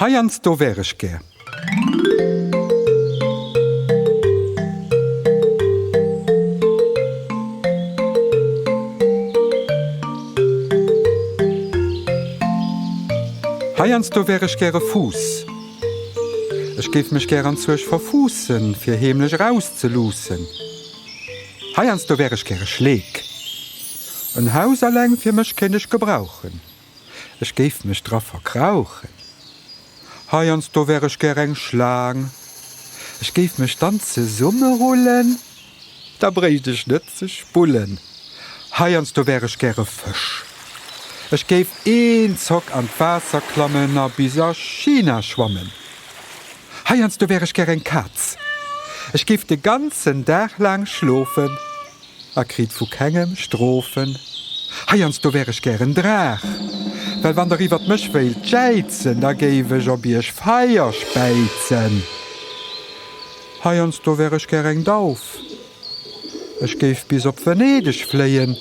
Heiansdo wär ech gär. Heiansdo wär ech gäre Fuuss. Ech géif mech gär an Zuech verfuussen, fir heemlech erauszeluussen. Heiansdo wär ech gäre Schleek. En Haus alleng fir mech kéint ech gebrauchen. Ech géif mech dra verkrauchen. Heiansdo wär ech gär eng Schlaang. Ech géif mech dann zesummerullen. Da bréicht ech net ze spullen. Heiansdo wär ech gär e Fësch. Ech géif een Zock an d'Waasser klammen a bis a China schwammen. Heiansdo wär ech gär eng Kaz. Ech géif de ganzen Dag laang schlofen. A kritt vu kengem Strofen. Heiansdo wär ech gären Draach. Well wann der iwwert mech wéilt jäizen, da géif ech op iech Feier späizen. Heiansdo wär ech gär eng Dauf. Ech géif bis op Venedeg fléien.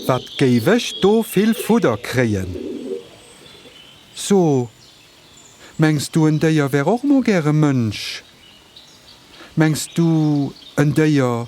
Wat géif ech do vill Fudder kréien. So, mengs du en Déier wär och mol gäre Mënsch? Mengs du en Déier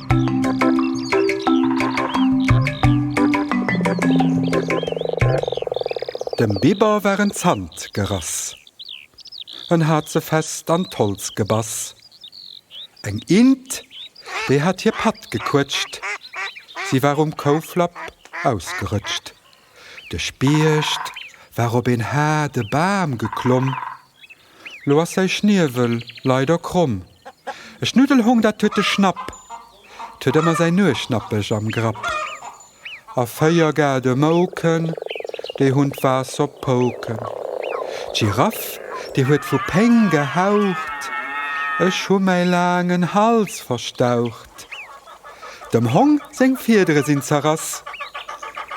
Dem Biber war en Zant gerass. En hat se fest an d'Holz gebass. Eng Int, déi hat hir Patt gequëtscht. Si war um Kouflapp ausgerëtscht. De Spiecht war op een haarde Bam geklomm, lo ass säi Schniewel leider kromm. E Schnuddelhong, dat huet de Schnapp, 't huet ëmmer säin Nueschnappech am Grapp. A véier gade Mouken, déi hunn d'Waass op Pouken. D'Giraff, déi huet vu Péng gehaucht, Ech hu mäi laangen Hals verstaucht. Dem Hong seng Fiedere sinn zerrass.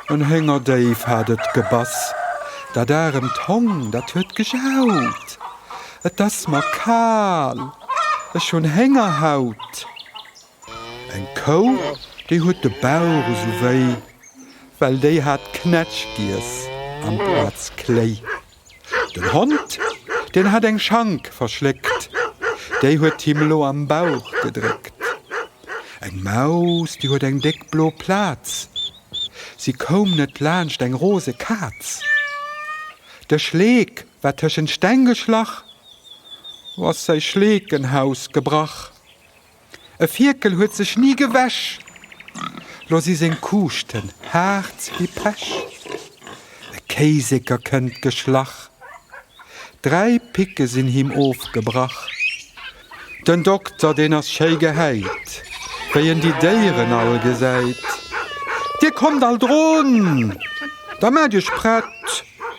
En Héngerdéif hat et gebass. Dat aremt Hong, dat huet gejaut, Et ass mer kal, ech hunn Héngerhaut. Eng Kou, déi huet de Bauch esou wéi, well déi hat Knätsch giess amplaz Kléi. Den Hond, deen hat eng Schank verschléckt, déi huet him lo am Bauch gedréckt. Eng Maus, déi huet eng déck blo Plaz, si koum net laanscht eng rose Kaz. De Schleek war tëschent Steng geschlach, lo ass säi Schleekenhaus gebrach. E Fierkel huet sech ni gewäsch, lo si seng Kuuschten haart wéi Pech. E Kéiseker kënnt geschlach, dräi Picke sinn him ofgebrach. Den Dokter, deen ass schéi gehäit, wéi en déi Déieren all gesäit, Dir kommt all drun, da maacht Iech prett!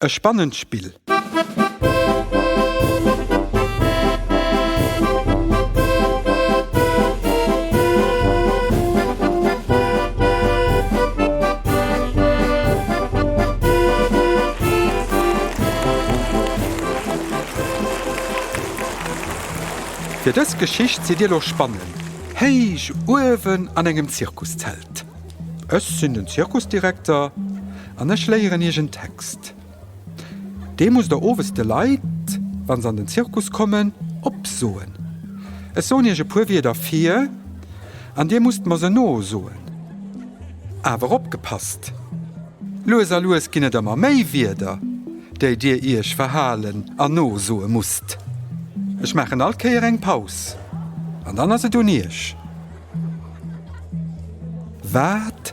E spannend Spill! Fir dës Geschicht sidd dir lo spannen, héich uewen an engem Zirkuszelt. Ech sinn den Zirkusdirekter. An ech léieren iech en Text. Dee musst der owes de Leit, wa se an den Zirkus kommen, opsoen. Ech soen iech e puer Wierder vir an dir musst mer se nosoen. Awer opgepasst, lues a lues ginn et ëmmer méi Wierder, déi dir iech verhalen an nosoe musst. Ech maachen all Kéier eng Paus an dann ass et un iech. Wat?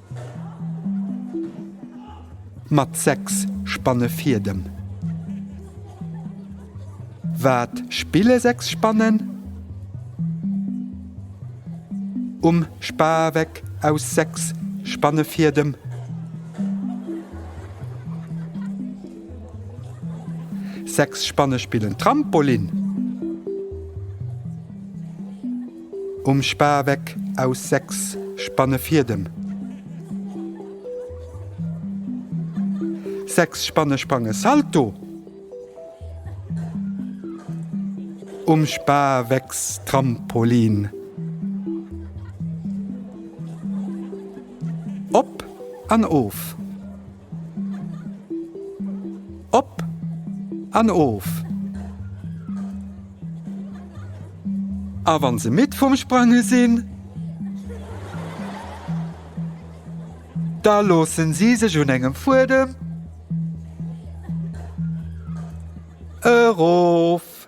Mat 6 Spanne vir dem. Wat spille 6 Spannen? Um Spaweck aus 6 Spanne vir dem. Sechs Spanne spillen Trampolin. Um Spaweck aus 6 Spanne Fiedem. 6 Spanne sprange Salto. Um Spawecks Trampolin. Op an of. Op an of! A wann se midd vum Sprange sinn, da loossen si sech un engem Fuedem erof.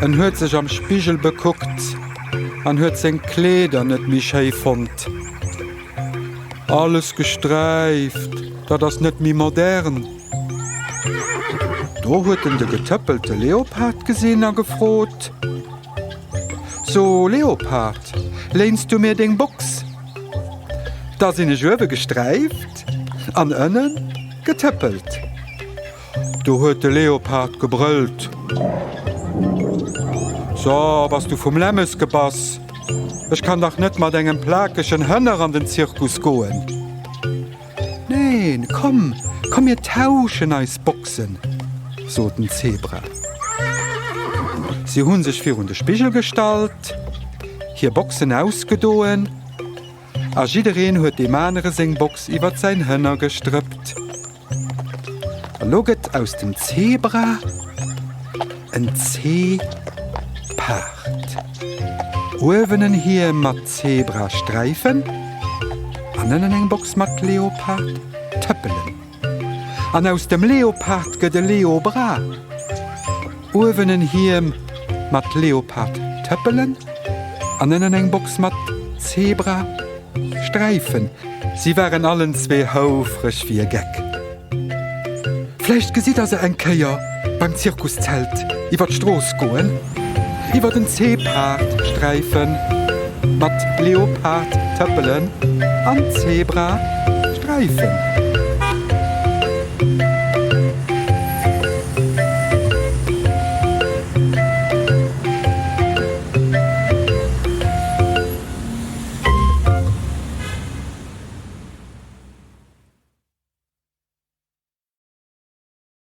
En huet sech am Spigel bekuckt an huet seng Kleeder net méi schéi fonnt. Alles gesträift, dat ass net méi modern. Do huet en de getëppelte Leopard gesinn a gefrot, So Leopard, léins du mir deng Box? Da sinn ech uewe gesträift an ënne getëppelt. Do huet de Leopard gebrëllt. So, bass du vum Lämmes gebass? Ech kann dach net mat engem plakegen Hënner an den Zirkus goen. Neen, komm, komm mir tauschen eis Boxen, sot den Zebra. Si hu sech virun de Spigel gestallt, hir Boxen ausgedoen. A jiddereen huet deem anere seng Box iwwert säin Hënner gestrëppt. A lo gëtt aus dem Zebra en Ze-paard. Uewen en Hiem mat Zebra-Sträifen an ënnen eng Box mat Leopard-Tëppelen. An aus dem Leopard gëtt e Leobra. Uewen en Hiem mat Leopard-Tëppelen an ënnen eng Box mat Zebra-Sträifen. Si waren allen zwee houfreg wéi e Geck. Vläicht gesitt Der se eng Kéier. Beim Zirkuszelt iwwer d'Strooss goen. Iwwer den Zeepard sträifen. Mat Leopard tëppelen an Zebra sträifen.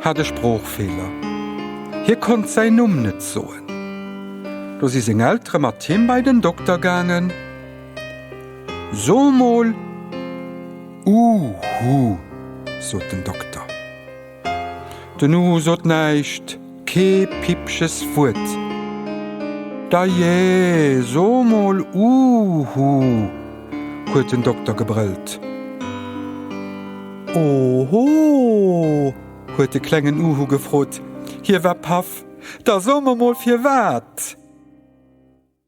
hat e Sproochfeeler, hie konnt säin Numm net soen. Do si seng Eltere mat him bei den Dokter gaangen. So mol, Uhu, sot den Dokter. Den Uhu sot näischt, kee Pippches Wuert. Dajee, so mol, Uhu, huet den Dokter gebrëllt. Oho! huet de klengen Uhu gefrot. Hie war paff. Da so mer mol firwat!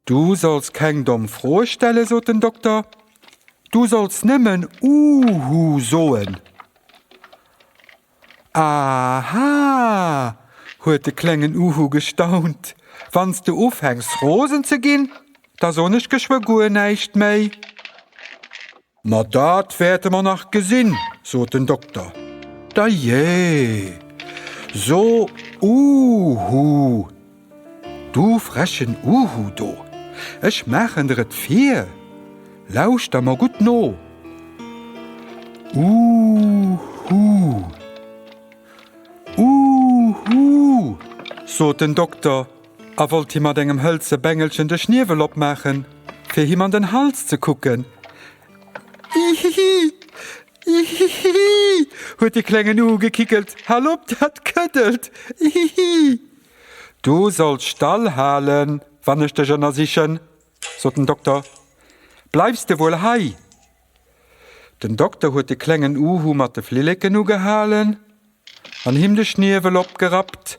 Du solls keng domm Froe stellen, sot den Dokter. Du solls nëmmen Uhu soen. Aha! huet de klengen Uhu gestaunt. Wann s de ufänks rosen ze ginn, da soen ech geschwë guer näischt méi. Ma dat wäerte mer nach gesinn, sot den Dokter. Dajé, so Uhu, du frechen Uhu do, ech maachen der et vir, lauschter mer gutt no, Uhu, Uhu, sot den Dokter. A wollt him mat engem hëlze Bengelchen de Schniewel opmaachen, fir him an den Hals ze kucken. Ihihi! Ihihihi! huet de Klengen ugekickelt, hal op, dat këddelt! Ihihi! Du solls stall halen, wann ech dech ënnersichen, sot den Dokter. Bleifs de wuel hei? Den Dokter huet de klengen Uhu mat de Flilleken ugehalen an him de Schniewel opgerappt.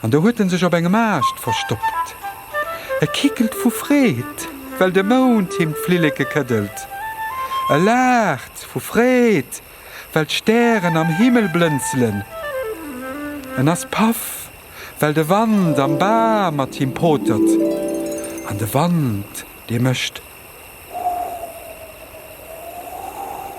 An do huet en sech op engem Aascht verstoppt. E kickelt vu Freed, well de Mound him d'Flilleke këddelt. E laacht vu Freed, well d'Stären am Himmel blënzelen. En ass paff, well de Wand am Bam mat him potert. An de Wand, dee mécht, Huuuh, huuuh,